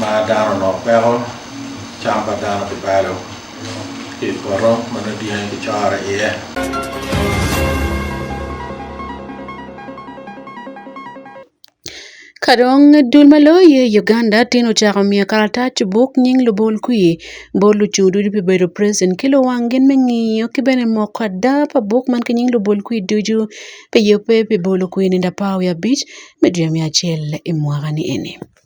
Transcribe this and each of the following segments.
ma dano onongo peko cam pa dano pi balo i poto ma nongo dyangi kicoro iye. Ka dong dul ma loyo i Uganda tin ocako miyo karatac buk nying lubol kwi bot lucung ducu pi bedo president ki luwang gin me ngiyo ki bene moko ada pa buk man ki nying lubol kwi ducu pi yubbe pi bolo kwini lapar wiye abic me dwe me acel i mwaka ni eni.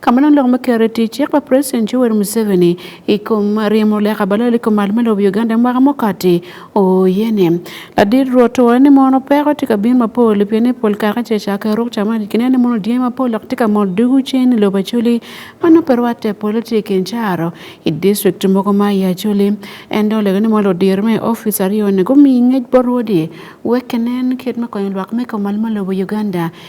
Kama na lok makere tich yakwa President Yoweri Museveni ikom riemo le kabalo liko mal malo Uganda mwaka mokati oyene. Ladir roto wani mono peko tika bin mapol pia ni pol kaka che chaka rok chama dikine ni mono diye mapol lak tika mol dugu chen lo bachuli mano perwa te politik encharo i district moko ma ya chuli endo lego ni mono dir me office ariyo ne gumi ngej borwodi wekenen kit makonyo lwak me komal malo Uganda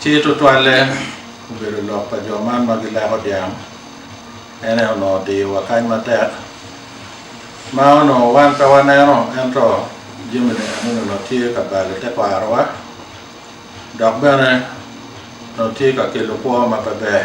Ci tutwalle obedo lok pa jo man ma gileko dyang en aye onongo diyowa kany matek ma onongo wan pe waneno ento jami ni eno onongo tye ka balo te kwarowa dok bene onongo tye ka kelo kwo ma pe ber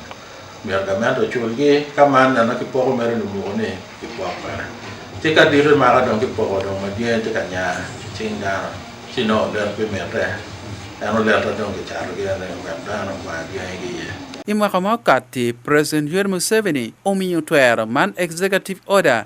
Myero gamente oculgi ka man neno kipoko mere lumuko ni kipoko mere. Ci ka dito maka dong kipoko dong madyen ci ka nya cing dano ci no olet pi mitte en oleta dong kicato gi ene wek dano kwa dyangi ki iye. I mwaka ma okatti, President Yoweri Museveni omiyo twero man Executive Order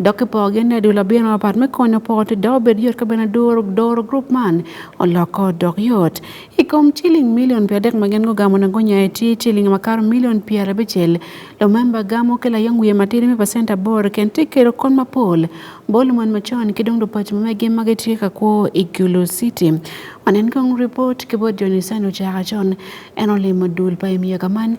Dok ki pogi ne dul abino mapat me konyo pot dok obed yot ka bene duro doro grup man oloko dok yot. I kom ciling milion pi adek ma gin gugamo na gunya i tye ciling makato milion pi arabicel. Lumemba gamo ki layong wiye matidi me pacent aboro ken tye kelo kon mapol bol mon macon ki dong lupaco ma megi ma gitye ka kwo i Gulu City. Wanen kong ripot ki bot Johnny Sani ocaka con en olimo dul pa i myaka man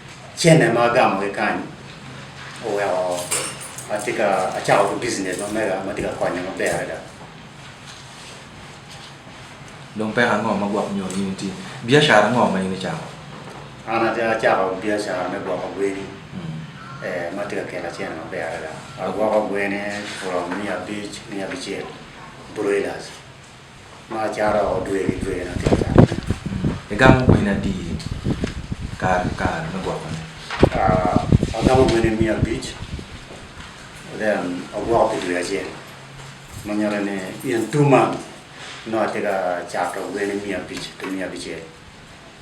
Chene magamo gi kanyo owewo atika achako gi business mamega matika konyo maber ada. Dong pek ang'o ma gwako nyo ni nitie? Biashara ang'o ma in ichako? An achako biashara me gwako gweni. Eh, matika kela chene maber ada. Agwako gweni from mia abich mia abichiel broilers. Ma chara odwe gi dwe na tata. Egamo gwena di kar kar nogwako ne. Ah, agamo gwena mia abich. Then ogwako gi dwe achiel. Manyalo ni in two months. No atega chako gwena mia abich to mia abichiel.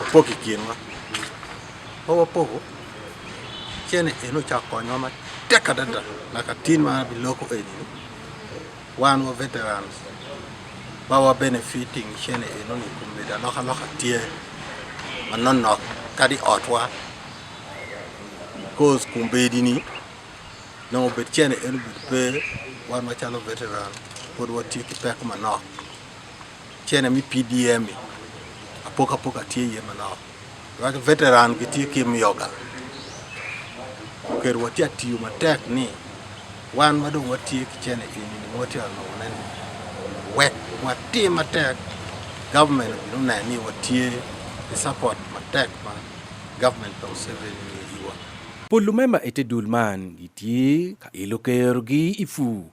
opoki kienwa owa pogo chene eno cha konyo ma teka dada na katin ma bi loko eni wan wa veterans ba wa benefiting chene eno ni kumbe da loka loka tie ma non nok kadi otwa cause kumbe di ni no bet chene eno bet pe wan ma chalo veteran pod wa tie ki pek ma nok Chene mi PDM apoka apoka tie yie manok. Wach veteran gi tie kim yoga. Ker wati atiyo matek ni wan madong watie kichene ini ni wati ano nene. Wek wati matek government no na ni watie the support matek ma government of seven years. Polo mema ete dul man gitie ka ilo ker gi ifu.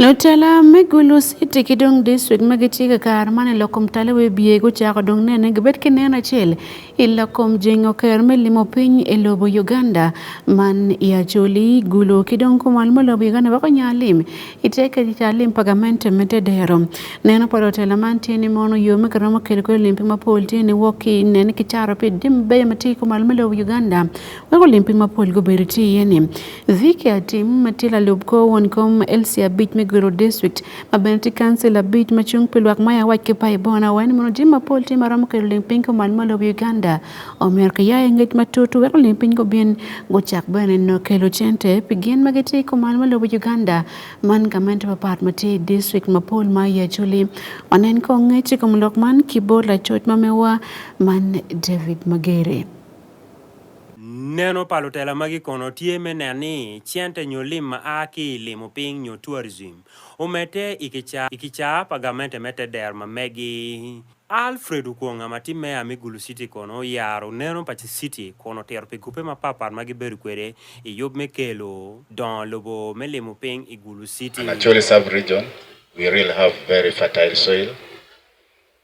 Lutela me Gulu City ki dong district ma gitye ka kare man i lokom tala we biye gucako dong nene gibed ki neno acel i lokom jengo ker me limo piny i lobo Uganda man i Acholi Gulu ki dong kumal ma lobo Uganda weko nya lim i te kedi ta lim pa gamente me dedero neno pa lutela man tye ni mono yo me kiromo kelo kwe limpi mapol tye ni wok ki nene ki caro pi dim beyo ma tye kumal ma lobo Uganda Ako lim piny mapol go beri ti yeni. Dhike atim matila lub ko won kom elsi abij me gwero district. Ma bene ti council abij ma chung pilwak ma ya wach kipa ibona wen mono jim mapol ti maram kero lim piny ko man malo Uganda. Omer ka ya engej matutu weko lim piny go bin go chak bene no kelo chente pigin ma giti ko man malo Uganda. Man gamente papat ma ti district mapol ma ya chuli. Wanen ko ngechi ko mlok man kibo la choj ma mewa man David Magere. Neno pa lutela magi kono tye me neno ni cente nyo lim ma a ki i limo piny nyo tourism omedde i kicaa pa gamente me te dero ma megi. Alfred Okwonga ma tye meya me Gulu City kono oyaro neno pa city kun otito pi gupe mapatpat ma gibedo kwede i yub me kelo dongo lobo me limo piny i Gulu City. Acholi Sub-Region, we really have very fertile soil.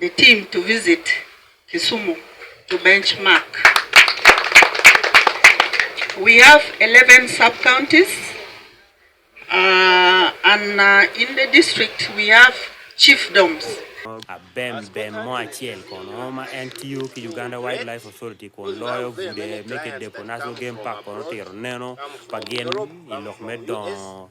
the team to visit Kisumu to benchmark. We have 11 sub-counties uh, and uh, in the district we have chiefdoms. Abem Ben Moachiel kono ma en tiyo ki Uganda Wildlife Authority kun loyo bude meke depo National Game Park kono tiro neno pa gin i lok me dongo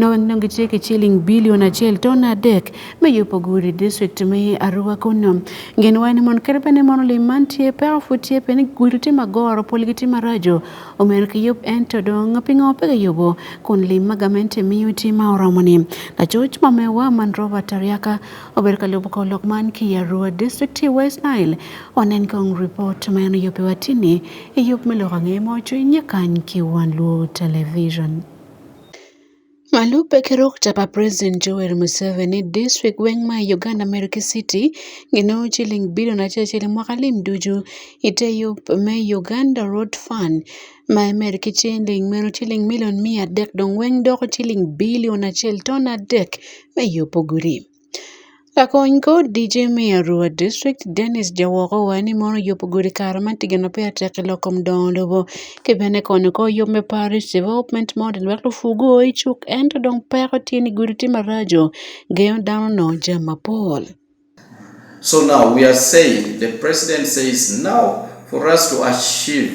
nowengnongi cheke chiling bilion achiel ton adek meyopoguri district mi arua kuno ngin wani mon kerbene mon lim mantie pe ofutie pe ni guri ti magoro pol gi ti marajo omer ki yop en to dong pingo pe yobo kun lim magamente miyo ti ma oromo ni la choch ma me wa man roba tariaka ober ka lobo ko lok man ki arua district ti west nile onen kong report ma en yopi watini yop me lok ange mo chwe nyekan ki wan luo television Malupe kero kutapa President Joel Museveni district weng ma i Uganda Meriki City gino ciling bilion acel mwaka lim ducu ite yub me Uganda Road Fund ma i Meriki ciling meno ciling milion miya dek dong weng doko ciling bilion acel ton adek me yubo gudi. Kakony kod DJ Miyo Arua District Dennis Jawoko wani mono yop gudi kara ma tigano pe atek loko mdondo bo kibene kono ko yop me parish development model wek lufugu o icuk ento dong peko tye ni gudi tye maraco gengo dano no jam mapol. So now we are saying the president says now for us to achieve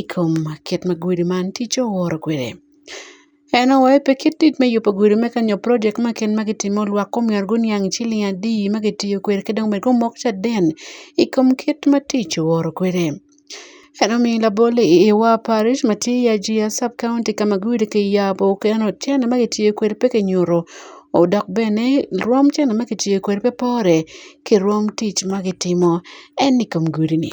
ikom ket ma gudi man ticce oworo kwede. En owe pe kit tit me yubo gudi me kanyo project ma ken ma gitimo olwak kom yar guni ang' chiling adi ma gitiyo kwede ki dong bene ka omok caden i kom kit ma tic oworo kwede. En omiyo labol i Iwa parish ma tye i Ajia sub county ka ma gudi kiyabo keno cene ma kitiyo kwede pe kinyuto dok bene rwom cene ma kitiyo kwede pe pore ki rwom tic ma gitimo ene i kom gudi-ni.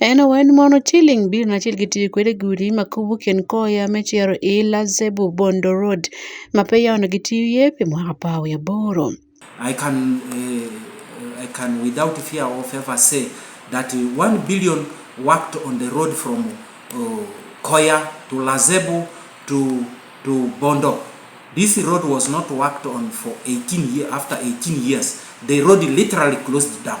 Ena wen mono chiling bir na chilgi tiri kwere guri makubu ken koya me chiaro ila zebu bondo road mape yawno gi tiye pe mwaka pawo ya boro. I can, uh, I can without fear of ever say that uh, one billion worked on the road from uh, Koya to Lazebu to, to Bondo. This road was not worked on for 18 years. After 18 years, the road literally closed down.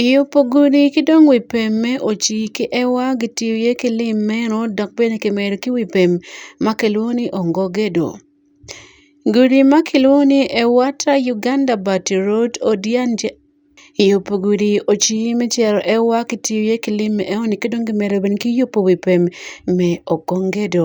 Iye opogore ki dong wi pem me ociki ewa gitiyo iye ki lim meno dok bene kimedo ki wi pem ma kilwongo ni ongogedo. Gudi ma kilwongo ni ewata Uganda bati road odianja iyo pa gudi ociki me cito ewa kitiyo iye ki lim enoni ki dong kimedo bene ki yubu wi pem me okongedo.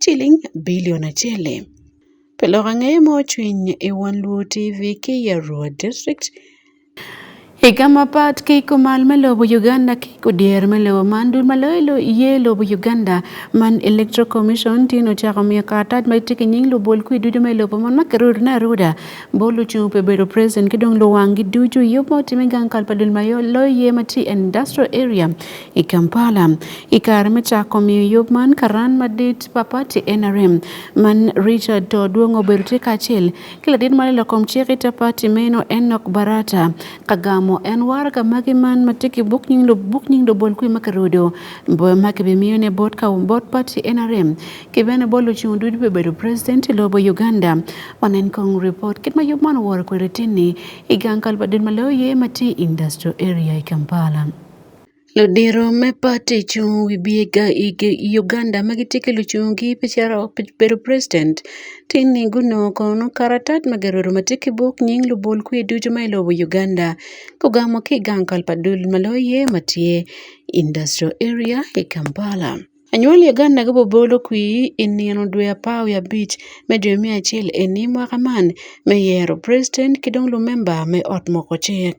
chiling bilion achiel. Pelok ang'eye mochwiny e Wang' Luo TV Kiyarwa District. Higa ma pat keiko mal me lobo Uganda keiko dier me lobo man dul ma loyo ye lobo Uganda man Electoral Commission tin ochako miyo karatac ma tye ki nying lubol kwi ducu me lobo man ma kirudo ne aruda bol ocung pe bedo president ki dong luwanggi ducu yub ma otime gang kal pa dul ma loyo ye ma tye industrial area I Kampala, i kare me cako miyo yub man karan madit pa pati NRM man Richard to Odwongo obedo tye kacel ki ladit ma lelo kom cik ite pati meno Enock Barata ka gamo en waraga magi man ma tye ki buk nying buk nying lubol kwi ma kirudo ma kibimiyone bot ka bot pati NRM ki bene bot lucung ducu bibedo president i lobo Uganda wanen kong report kit ma yub man oworo kwede tinni i gang kalubadit ma loyo ye ma tye industrial area i Kampala. Lodiro me party chung wi biega igi Uganda magitikelo chung gi picharo bedo president tini guno kono karatat mageroro matiki buk nying lubol kwi ducu ma ilobo Uganda kugamo ki gang kalpadul maloye matye industrial area i Kampala. Anywal Uganda gibobolo kwi i nino dwe apar wi abic me dwe me acel eni mwaka man me yero president ki dong lumemba me ot moko cik.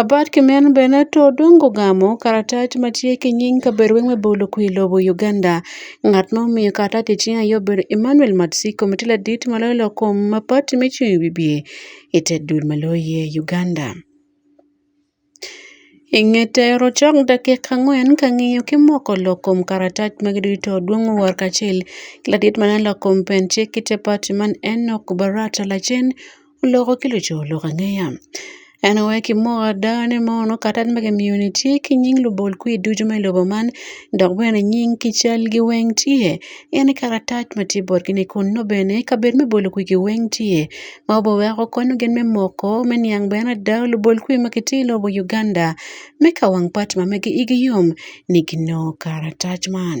Abat Kimeanu Benetto odongo ogamo karatat ma tye ki nying kabedo weng me bolo kwir i lobo Uganda. Ngat ma omiyo karatat i cinge aye obedo Emmanuel Matsiko ma tye ladit ma loyo lok kom ma pati me cung i wibye i te dul ma loyo iye i Uganda. I nge tero cok dakika angwen ka ngiyo ki moko lok kom karatat magi ducu to odwongo owor kacel ki ladit ma loyo lok kom pen cik ki te pati man Enock Baratta lacen Loko ki luco lok angeya. En aye ki moko ada ni mono katat ma kimiyo ni tye ki nying lubol kwi ducu me lobo man dok bene nying ki cal gi weng tye en aye karatac ma tye bot gi ni kun nongo bene kabedo me bolo kwi gi weng tye ma obe weko konyo gin me moko me niang bene ada lubol kwi ma gitye i lobo Uganda me ka wang pat ma megi igi yom ni ginongo karatac man.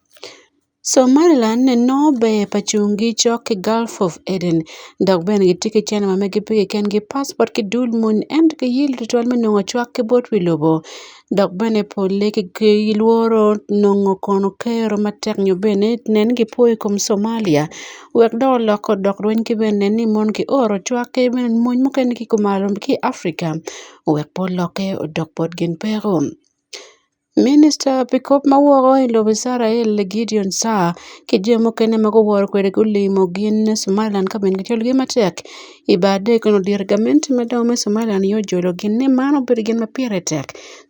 Somaliland nobe e pachungi chok ki Gulf of Aden dok bene gitye ki cente ma meggi pe keken ki passport ki dul moni ento giyilo tutwal me nongo cwak ki bot wi lobo dok bene pole gilworo nongo kono kero matek nyo bene nen ni gipwo i kom Somalia wek dong olok odok lweny ki bene nen ni mon ki oro cwak ki bene mony mukene ki kumalo ki i Africa wek pe olokke odok bot gin peko. Minista pi kop ma woko i lobo Icrael Gideon Saar ki jo mukene ma guworo kwede gulimo gin Somaliland ka bene gicwalo gin matek i bar dek kun odiro gamente madongo me Somaliland yo jolo gin ni man obedo gin ma pire tek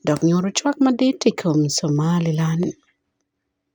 dok nyuto cwak madit i kom Somaliland.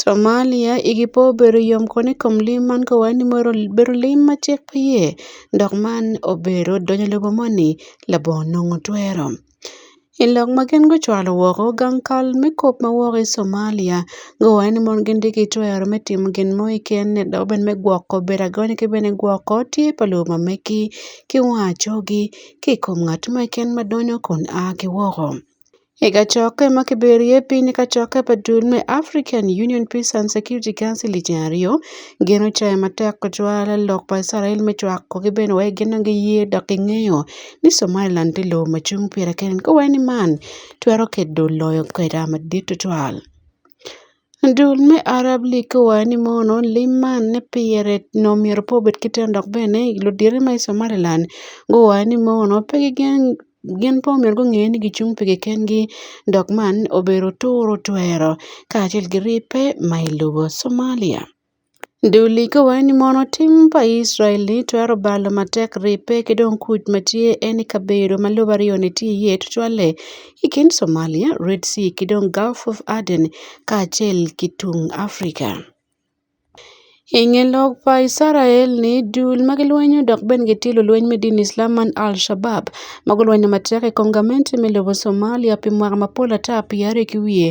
Somalia i ki po obedo yom kono i kom lim man ka waneno ni ma obedo lim ma cik pe iye dok man obedo donyo i lobo moni labongo nongo twero i lok ma gin gucwalo woko gang kal me kop ma woko i Somalia guwaco ni mon gitye ki twero me timo gin mo keken dok bene me gwoko bedo agony ki bene gwoko tye pa lobo ma megi ki wang acogi ki i kom ngat mo keken ma donyo kun a ki woko. Ee kachooke ma kibirie piny kachooke pa dul me African Union Peace and Security Council i ceng aryo, gin ocayo matek kacwalo lok pa Icrael me cwako ki bene wek gin dong giye dok gingeyo ni Somaliland tye lobo ma cung pire kene, ka wai ni man twero kedo loyo kweda madit tutwal. Dul me Arab League ki wayo ni mono lim man ni pire nongo myero pe obed ki teno dok bene ludito ma i Somaliland guwayo ni mono pe gigen gin pe omyero gunge ni gicung pi kikengi dok man obedo turo twero kacel ki ribbe ma i lobo Somalia. Ndulika wayoni mono tim pa Israel ni twero balo matek ripe ki dong kuc ma tye en i kabedo ma lobo aryoni tye iye tutwalle i kin Somalia, Red Sea ki dong Gulf of Aden kacel ki tung Afrika. I nge lok pa Icrael ni dul ma gilwenyo dok bene gitye lulweny me dini Icalam man Alshabab ma gulwenyo matek i kom gamente me lobo Somalia pi mwaka mapol ata pyeraryo ki wiye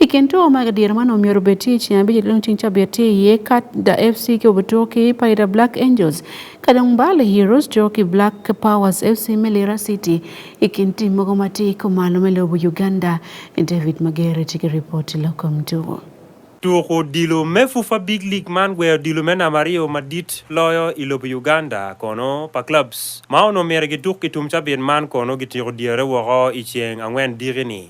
I kin tugo ma gadier ma nomiyo obetie ceng abic i lung cing cabiet tye iye kat da fc ki obetugo ki paida black angels ka dong mbale heroes tugo ki black powers fc me lira city i kin tim mogo ma tye ko malo me lobo uganda david magere tye ki ripot i lokom tugo Tuko odilo me FUFA Big League man gweyo odilo me namba aryo madit loyo i lobo Uganda kono pa clubs ma onongo myero gituk i tum cabit man kono gitiko dyere woko i ceng angwen diki-ni.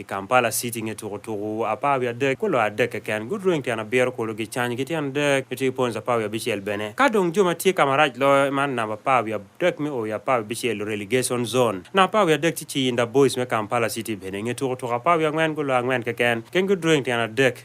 I Kampala City nge tukutuku apar wiye adek ku loyo adek keken gudweng tyen abiro kulu gicany ki tyen adek ki tye points apar wiye abicel bene. Ka dong jo ma tye ka marac loyo man namba apar wiye adek me o wiye apar wiye abicel relegation zone. Namba apar wiye adek tye Kiyinda Boys me Kampala City bene nge tukutuku apar wiye angwen guloyo angwen keken keng gudweng tyen adek.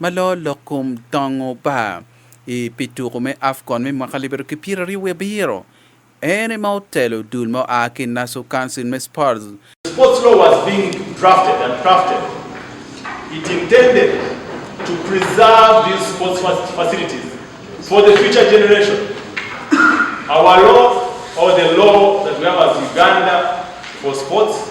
ma loo lok kom tongo pa i pi tuku me Afcon me mwaka libiro ki pyera ryo wiye biro. En ema otelo dul ma oa ki Nassau Council me Sports. Sports law was being drafted and crafted. It intended to preserve these sports facilities for the future generation. Our law or the law that we have as Uganda for sports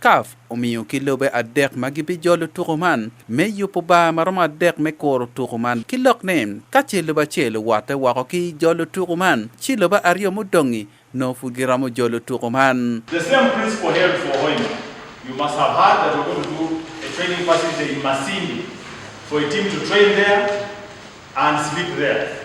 Caf omiyo ki lobe adek ma gibijolo tuko man me yubo bar ma romo adek me kuro tuko man ki lok ni ka ce lobe acel owote woko ki jolo tuko man ci lobe aryo mudongi nongo pud giromo jolo tuko man. The same principle held for Hoima. You must have heard that we're going to do a training facility in Masindi for a team to train there and sleep there.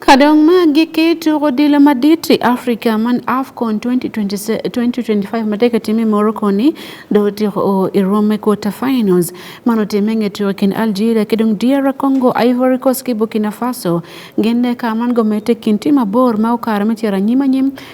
Kadong ma giketo odilo madit e Africa man AFCON 2025 matek time Morocco ni do tiko o irom e quarter finals mano time ngeto kin Algeria kedong DR Congo Ivory Coast ki Burkina Faso gende ka man go mete kin tima bor ma okar me tira nyima nyim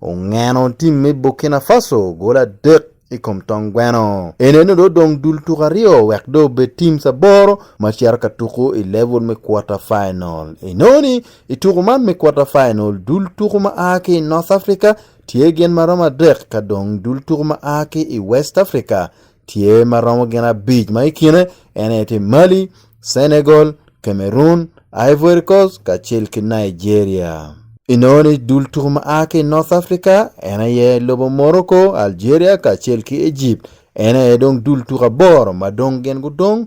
Ongeno tim me Burkina Faso gol adek i kom tong gweno. Eneno do dong dul tuk aryo wek do be tim saboro ma cero ka tuku i level me quarter final. Enoni i tuku man me quarter final dul tuku ma a ki North Africa tye gin ma romo adek ka dong dul tuku ma a ki i West Africa tye ma romo gin abic ma i kine en aye tye Mali, Senegal, Cameroon, Ivory Coast kacel ki Nigeria. Inongo ni dul tuku ma a ki North Africa en aye lobo Morocco, Algeria kacel ki Egypt. En aye dong dul tuku aboro ma dong gin gudong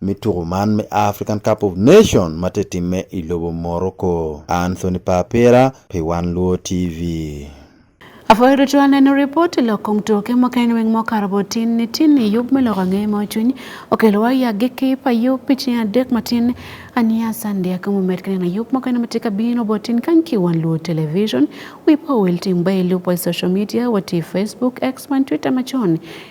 me tuko man me African Cup of Nation ma te timme i lobo Morocco. Anthony Papera pi Wan Luo TV. Afoyo to tuan en report loko mtoke mo kain weng mo karbo tin ni tin ni yub melo ka ngey mo chuny okelo wa ya giki pa yub pichi ya dek matin ania sande ka mo met kana yub mo kain matika bino botin kan ki wan luo television we po wel tim bay lupo social media wati facebook x man twitter machon